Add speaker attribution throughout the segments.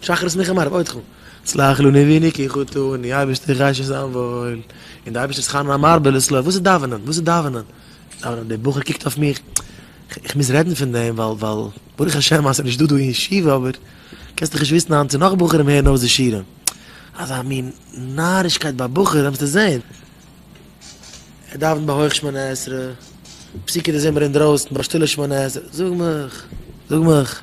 Speaker 1: שחרית ניחא מערב עוד חו. צלח לו נביני כי חוטאני, אייבערשטער איך ווייס נישט זיין וואויל, און די אייבערשטער שכר נא מרבה לסלוח, וואס איז דאווענען? וואס איז דאווענען? דאווענען? דער בחור קוקט אויף מיך, איך מוז רעדן פון דעם ווייל ווייל ברוך השם אז ס'איז נישט דא דא אין ישיבה אבער קענסט דאך נישט וויסן היינט צו נאך בחורים הערן אויס די שירים, אזא מין נארישקייט ביי בחורים וועסטו זען. ער דאווענט ביי הויך שמונה עשרה, פסוקי דזמר אינדרויסן ביי שטילע שמונה עשרה, זאג מיך, זאג מיך.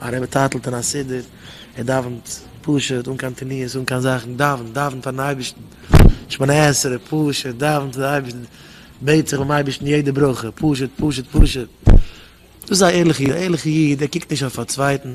Speaker 1: א רבי טייטלט אין א סידור, ער דאווענט פשוט, אן קיין תניעות, אן קיין זאכן, דאווענט, דאווענט פארן אייבערשטן, שמונה עשרה, פשוט, דאווענט צו די אייבערשטן, בעט זיך ביים אייבערשטן יעדע ברכה, פשוט, פשוט, פשוט. דאס איז א ערליכע איד, א ערליכע איד, ער קוקט נישט אויף א צווייטן,